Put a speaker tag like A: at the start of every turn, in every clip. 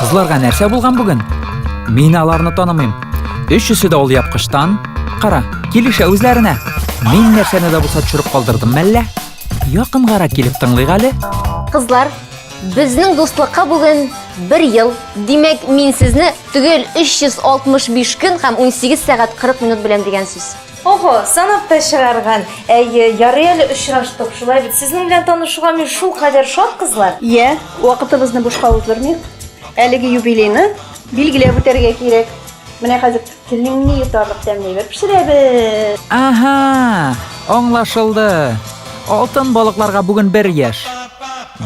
A: Кызларга нәрсә булган бүген? Мин аларны танымыйм. Өчесе дә ул япкыштан. Кара, килешә үзләренә. Мин нәрсәне дә булса төшереп калдырдым мәллә? Якынгара килеп тыңлыйк әле. Кызлар,
B: безнең дуслыкка бүген бер ел. Димәк, мин сезне төгәл 365 көн һәм 18 сәгать 40 минут беләм дигән сүз. Ого, санап
C: та чыгарган. Әйе, ярый әле очраштык. Шулай бит. Сезнең белән танышуга мин шул кадәр шат, кызлар. Йә, вакытыбызны
D: бушка уздырмыйк. Әлеге юбилейны билгеләп үтәргә кирәк. Менә хәзер телеңне йотарлык тәмле әйбер пешерәбез. Ага,
A: аңлашылды. Алтын балыкларга бүген бер яшь.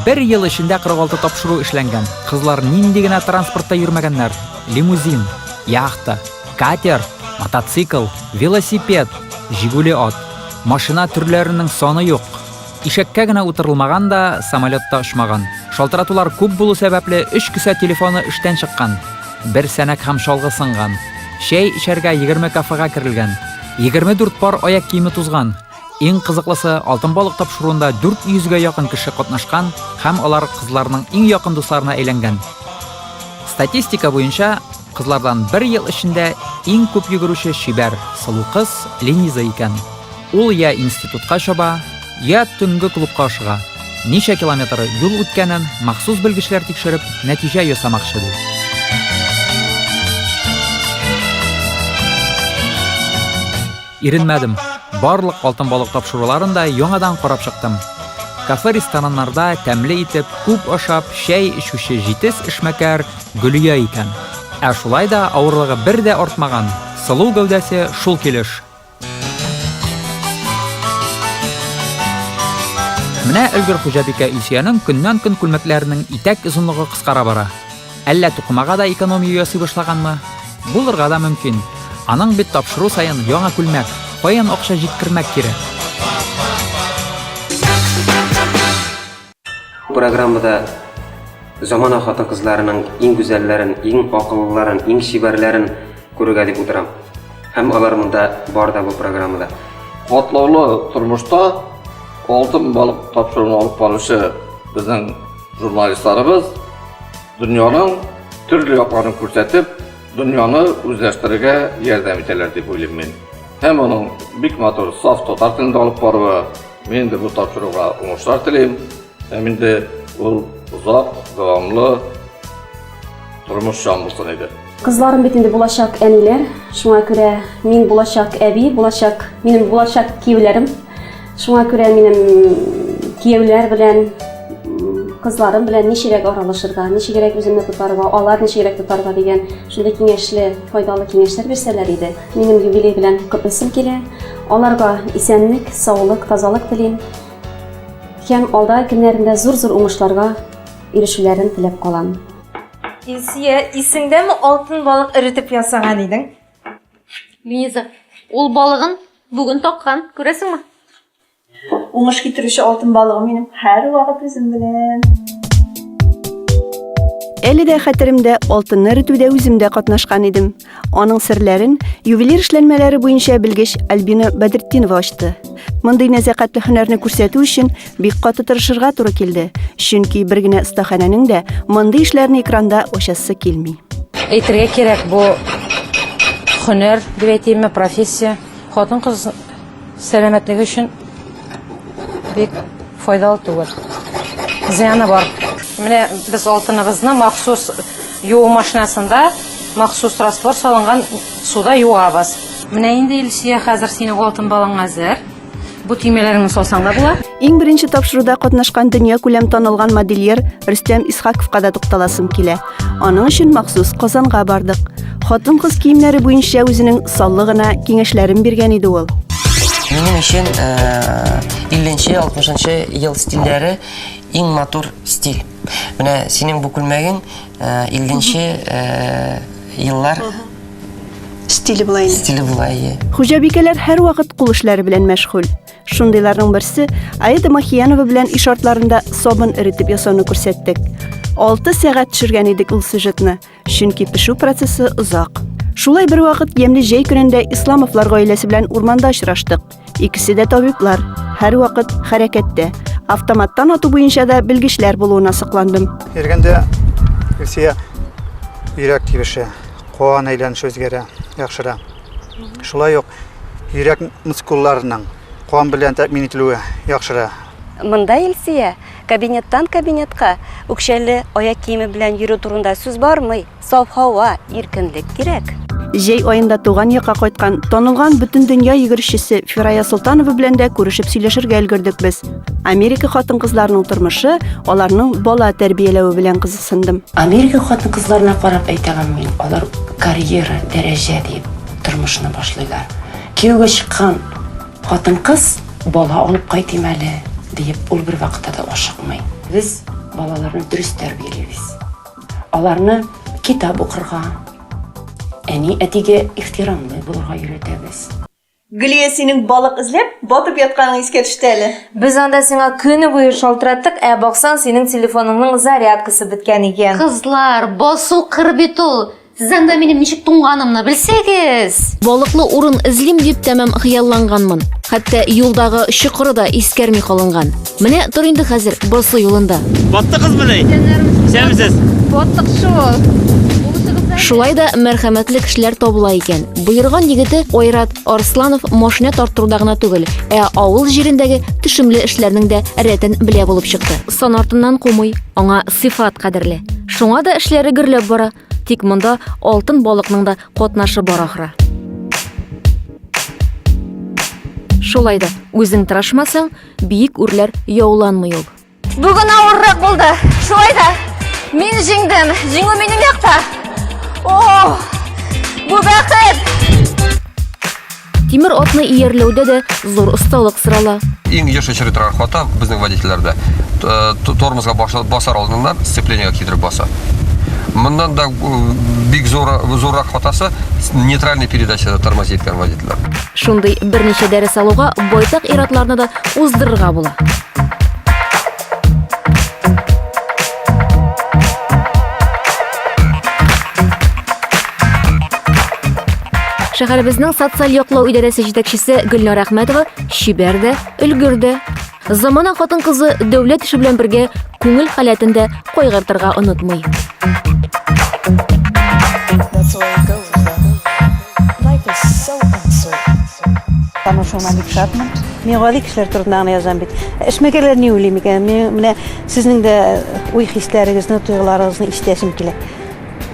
A: Бер ел эчендә 46 тапшыру эшләнгән. Кызлар нинди генә транспортта йөрмәгәннәр. Лимузин, яхта, Катер, мотоцикл, велосипед, Жигули ат. Машина төрләренең саны юк. Ишәккә генә утырылмаган да, самолетта очмаган. Шалтыратулар күп булу сәбәпле, өч кесә телефоны эштән чыккан. Бер сәнәк һәм чалгы сынган. Чәй эчәргә 20 кафега керелгән. 24 пар аяк киеме тузган. Иң кызыклысы, Алтын балык тапшыруында 400 гә якын кеше катнашкан һәм алар кызларның иң якын дусларына әйләнгән. Статистика буенча, кызлардан бер ел эчендә иң күп йөгерүче чибәр, сылу кыз Лениза икән. Ул йә институтка чаба, йә төнге клубка ашыга. Ничә километр юл үткәнен махсус белгечләр тикшереп, нәтиҗә ясамакчы, ди. Иренмәдем. Барлык алтын балык тапшыруларын да яңадан карап чыктым. Кафе-рестораннарда тәмле итеп, күп ашап, чәй эчүче җитез эшмәкәр Гөлия икән. Ә шулай да авырлыгы бер дә артмаган, сылу гәүдәсе шул килеш. Менә өлгер хуҗабикә Илсөянең көннән-көн күлмәкләренең итәк озынлыгы кыскара бара. Әллә тукымага да экономия ясый башлаганмы? Булырга да мөмкин. Аның бит тапшыру саен яңа күлмәк, каян акча җиткермәк кирәк?
E: Бу программада замана хатын-кызларының иң гүзәлләрен, иң акыллыларын, иң чибәрләрен күрергә дип утырам. Һәм алар монда бар да бу программада. Катлаулы
F: тормышта алтын балык тапшыруын алып баручы безнең Журналистларыбыз дөньяның төрле якларын күрсәтеп, дөньяны үзләштерергә ярдәм итәләр дип уйлыйм мин. Һәм моның бик матур, саф татар телендә алып баруы, мин инде бу тапшыруга уңышлар телим. Һәм инде ул озак, дәвамлы, Тормыш җан булсын иде. Кызларым бит инде
G: булачак әниләр, шуңа күрә мин булачак әби, булачак минем булачак кияүләрем. Шуңа күрә минем кияүләр белән кызларым белән ничегрәк аралашырга, ничегрәк үземне тотарга, алар ничегрәк тотарга дигән шундый киңәшле, файдалы киңәшләр бирсәләр иде. Минем юбилей белән котлыйсым килә. Аларга исәнлек, саулык, тазалык телим. Һәм алда көннәрендә зур-зур уңышларга ирешүләрен теләп калам. Илсия,
C: исеңдәме алтын балык эретеп ясаган идең? Лиза,
B: ул балыгын бүген таккан, күрәсеңме?
D: Уңыш китерүче алтын балыгым минем һәр вакыт үзем белән. Әле дә хәтеремдә, алтынны эретүдә үзем дә катнашкан идем. Аның серләрен ювелир эшләнмәләре буенча белгеч Альбина Бәдертдинова ачты. Мондый нәзәкәтле һөнәрне күрсәтү өчен бик каты тырышырга туры килде, чөнки бер генә остаханәнең дә мондый эшләрне экранда ачасы килми. Әйтергә кирәк,
H: бу һөнәр дип әйтимме, профессия. Хатын-кыз Сәламәтлеге өчен бик файдалы түгел. Зыяны бар. Менә без алтыныбызны махсус юу машинасында махсус раствор салынган суда юабыз. Менә инде Илсия, хәзер синең алтын балың әзер. Бу төймәләреңне салсаң да була. Иң беренче тапшыруда
D: катнашкан дөньякүләм танылган модельер Рөстәм Исхаковка да тукталасым килә. Аның өчен махсус Казанга бардык. Хатын-кыз киемнәре буенча үзенең саллы гына киңәшләрен биргән иде ул. Минем өчен
I: 50-нче, 60-нчы ел стильләре иң матур стиль. Менә синең бу күлмәгең 50-нче еллар
D: стиле була инде. Стиле була, ие. Хуҗабикәләр
I: һәрвакыт кул эшләре
D: белән мәшгуль. Шундыйларның берсе Аида Махиянова белән иш артларында сабын эретеп ясауны күрсәттек. 6 сәгать төшергән идек ул сюжетны, чөнки пешү процессы озак. Шулай бер вакыт ямьле җәй көнендә Исламовлар гаиләсе белән урманда очраштык. Икесе дә табиблар, һәр вакыт хәрәкәттә. Автоматтан ату буенча да белгечләр
J: булуына
D: сокландым. Иргәндә Илсия
J: йөрәк тибеше, куан әйләнеше үзгәрә, яхшыра. Шулай ук Йөрәк мускулларының кан белән тәэмин ителүе яхшыра. Монда
D: Илсөя кабинеттан кабинетка үкчәле аяк киеме белән йөрү турында сүз бармый. Саф һава, иркенлек кирәк. Җәй аенда туган якка кайткан танылган бөтендөнья йөгерешчесе Фирая Солтанова белән дә күрешеп сөйләшергә өлгердек без. Америка хатын-кызларының тормышы, аларның бала тәрбияләве белән кызыксындым. Америка хатын-кызларына
I: карап әйтәмен мин, алар карьера, дәрәҗә диеп тормышны башлыйлар. Кияүгә чыккан хатын-кыз бала алып кайтыйм әле диеп ул бер вакытта да ашыкмый. Без балаларны дөрес тәрбиялибез. Аларны китап укырга, әни әтигә ихтирамлы булырга өйрәтәбез. Гөлия,
C: синең балык эзләп, батып ятканың искә төште әле. Без анда сиңа
H: көне буе шалтыраттык, ә баксаң, синең телефоныңның зарядкасы беткән икән. Кызлар, басу
B: кыр бит ул. Сез анда минем ничек туңганымны белсәгез! Балыклы урын
K: эзлим дип тәмам хыялланганмын. Хәтта юлдагы чокыры да искәрми калынган. Менә тор инде хәзер басу юлында. Батты кыз менә.
L: Исәнмесез. Баттык
B: шул.
K: Шулай да мәрхәмәтле кешеләр табыла икән. Боерган егете Айрат Арсланов машина тарттыруда гына түгел, ә авыл җирендәге төшемле эшләрнең дә рәтен белә булып чыкты. Сан артыннан кумый, аңа сыйфат кадерле. Шуңа да эшләре гөрләп бара, тик монда алтын балыкның да катнашы бар ахры. Шулай да үзең тырышмасаң, биек үрләр яуланмый ул. Бүген авыррак
B: булды. Шулай да мин җиңдем. Җиңү минем якта. О! Бу бәхет!
K: Тимер атны иярләүдә дә зур осталык сорала. Иң еш очрый торган
M: хата безнең водительләрдә. Э, тормозга басар алдыннан сцеплениега китереп баса. Моннан да э, бик зур зуррак хатасы нейтральный передачада тормозит иткән водительләр. Шундый берничә
K: дәрес алуга байтак иратларны да уздырырга була. Шәһәребезнең социаль яклау идарәсе җитәкчесе Гөлнар Әхмәтова чибәр дә, өлгер дә. Замана хатын-кызы дәүләт эше белән бергә күңел халәтен дә кайгыртырга онытмый.
N: Танышуына бик шатмын. Мин гади кешеләр турында гына язам бит. Эшмәкәрләр ни уйлый микән? Мин менә сезнең дә уй-хисләрегезне, тойгыларыгызны ишетәсем килә.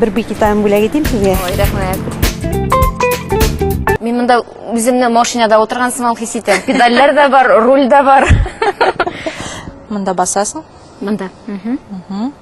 N: Бер бик итам бүләк итим сезгә. Ой, рәхмәт.
B: Мин монда үземне машинада отырган сыман хис итәм. Педальләр дә бар, руль дә бар.
H: Монда басасың. Монда.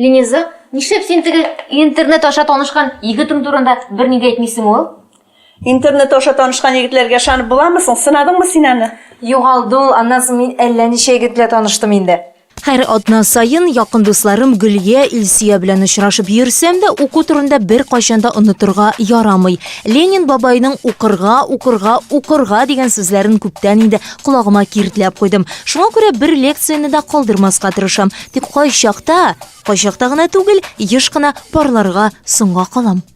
B: Лениза, нишләп син теге интернет аша танышкан егетең турында берни дә әйтмисең ул? Интернет
C: аша танышкан егетләргә ышанып буламы соң? Сынадыңмы син аны? Югалды ул,
H: аннан соң мин әллә ничә егет белән таныштым инде. Һәр атна
K: саен якын дусларым Гөлия, Илсөя белән очрашып йөрсәм дә, уку турында беркайчан да онытырга ярамый. Ленин бабайның укырга, укырга, укырга дигән сүзләрен күптән инде колагыма киртләп куйдым. Шуңа күрә бер лекцияне дә калдырмаска тырышам. Тик кайчакта, кайчакта гына түгел, еш кына парларга соңга калам.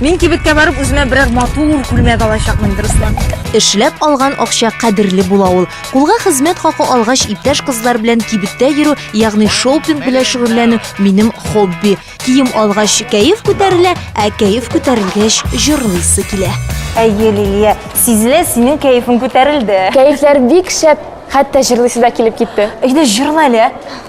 L: Мин
C: кибеткә барып үземә берәр матур күлмәк алачакмын, дөресме? Эшләп алган
K: акча кадерле була ул. Кулга хезмәт хакы алгач, иптәш кызлар белән кибеттә йөрү, ягъни шопинг белән шөгыльләнү минем хобби. Кием алгач, кәеф күтәрелә, ә кәеф күтәрелгәч, җырлыйсы килә. Әйе, Лилия,
C: сизелә, синең кәефең күтәрелде. Кәефләр бик шәп,
B: хәтта җырлыйсы да килеп китте. Әйдә, җырла әле, ә?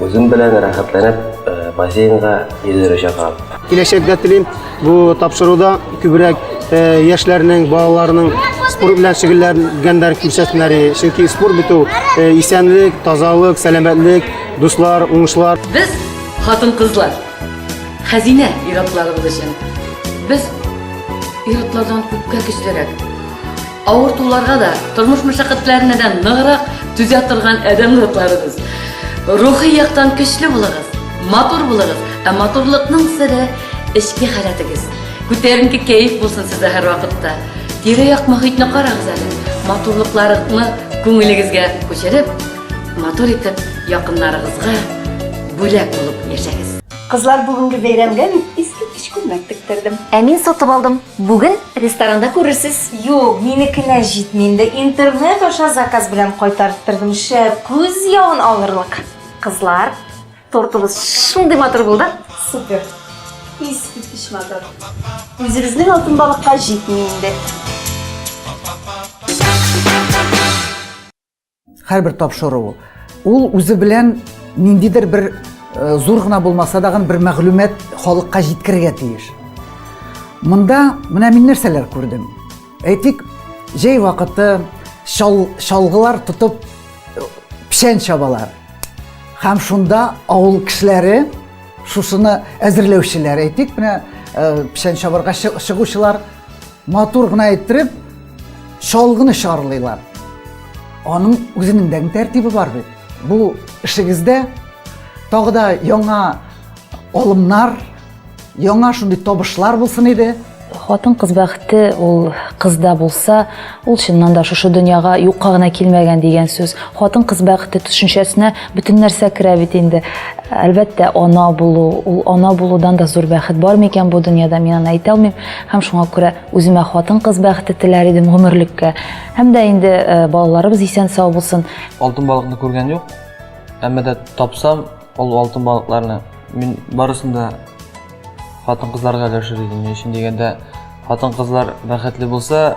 E: Үзем белән рәхәтләнеп бассейнга йөзәргә чакырам. Киләчәктә телим
J: бу тапшыруда күбрәк яшьләрнең, балаларның спорт белән шөгыльләнгәннәр күрсәтсеннәр. Чөнки спорт бит ул исәнлек, тазалык, сәламәтлек, дуслар, уңышлар. Без
I: хатын-кызлар хәзинә ир-атларыбыз өчен. Без ир-атлардан күпкә көчлерәк. Авыртуларга да, тормыш мәшәкатьләренә дә ныграк түзә торган адәм затларыбыз. Рухи яктан көчле булыгыз, матур булыгыз. Ә матурлыкның сере эчке халәтегез. Күтәренке кәеф булсын сездә һәрвакытта. Тирә-як мохитне карагыз әле. Матурлыкларны күңелегезгә күчереп, матур итеп якыннарыгызга бүләк булып яшәгез. Кызлар бүгенге
N: бәйрәмгә мин искиткеч күлмәк тектердем. Ә мин сатып алдым.
B: Бүген ресторанда күрерсез. Юк, минекенә
C: җитми инде, интернет аша заказ белән кайтарттырдым, шәп күз явын алырлык. Кызлар,
B: тортыбыз шундый матур булды. Супер!
C: Искиткеч матур! Үзебезнең алтын балыкка җитми инде.
O: Һәрбер тапшыру ул үзе белән ниндидер бер э, зур гына булмаса да бер мәгълүмат халыкка җиткерергә тиеш. Монда менә мин нәрсәләр күрдем. Әйтик, җәй вакыты шал, шалгылар тотып э, печән чабалар. Һәм шунда авыл кешеләре шушыны әзерләүчеләр, әйтик, менә э, печән чабарга чыгучылар Матур гына әйттереп, чалгыны чарлыйлар. Аның үзенең дә тәртибе бар бит. Бу эшегездә тагы да яңа алымнар, яңа шундый табышлар булсын иде. Хатын кыз
H: бәхете ул кызда булса, ул чыннан да шушы дөньяга юкка гына килмәгән дигән сүз. Хатын кыз бәхете төшенчәсенә бөтен нәрсә керә бит инде. Әлбәттә, ана булу, ул ана булудан да зур бәхет бар микән бу дөньяда, мин аны әйтә алмыйм. Һәм шуңа күрә үземә хатын-кыз бәхете теләр идем гомерлеккә. Һәм дә инде балаларыбыз исән-сау булсын. Алтын балыкны күргән
L: юк. Әмма дә тапсам, ул алтын балыкларны мин барысын да хатын-кызларга өләшер идем. Ни өчен дигәндә, хатын-кызлар бәхетле булса,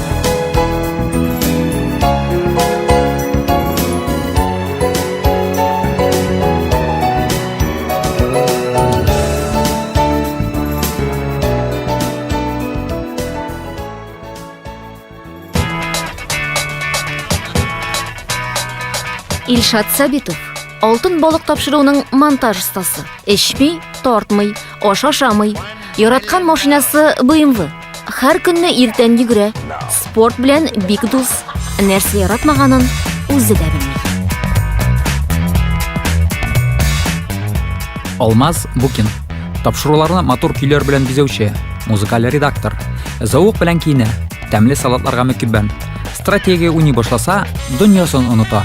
K: Илшат Сабитов алтын балык тапшыруның монтаж остасы. Эчми, тартмый, ашашамый. Яраткан машинасы BMW. Хәр көнне иртән йөгерә. Спорт белән бик дус. Нәрсә яратмаганын үзе дә белми.
A: Алмаз Букин. Тапшыруларны матур көйләр белән бизәүче, музыкаль редактор. Зауык белән киенә, тәмле салатларга мөкиббән. Стратегия уйный башласа, дөньясын оныта.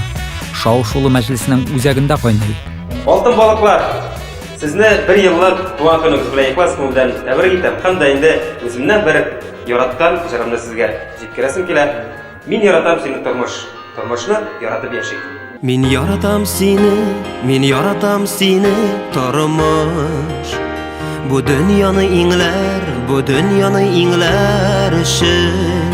A: Шау-шулы мәҗлеснең үзәгендә кайный. Алтын балыклар!
E: Сезне бер еллык туган көнегез белән ихлас күңелдән тәбрик итәм һәм дә инде үземнән бер яраткан җырымны сезгә җиткерәсем килә. Мин яратам сине тормыш, тормышны яратып яшик. Мин яратам
P: сине, мин яратам сине тормыш. Бу дөньяны иңләр, бу дөньяны иңләр өчен.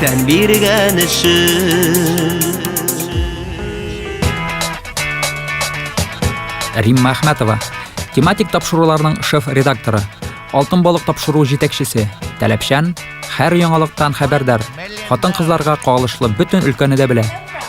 P: тән биргән өчен
A: Римма Ахматова, тематик тапшыруларның шеф-редакторы, Алтын балык тапшыру җитәкчесе, таләпчән, һәр яңалыктан хәбәрдар, хатын-кызларга кагылышлы бөтен өлкәне дә белә.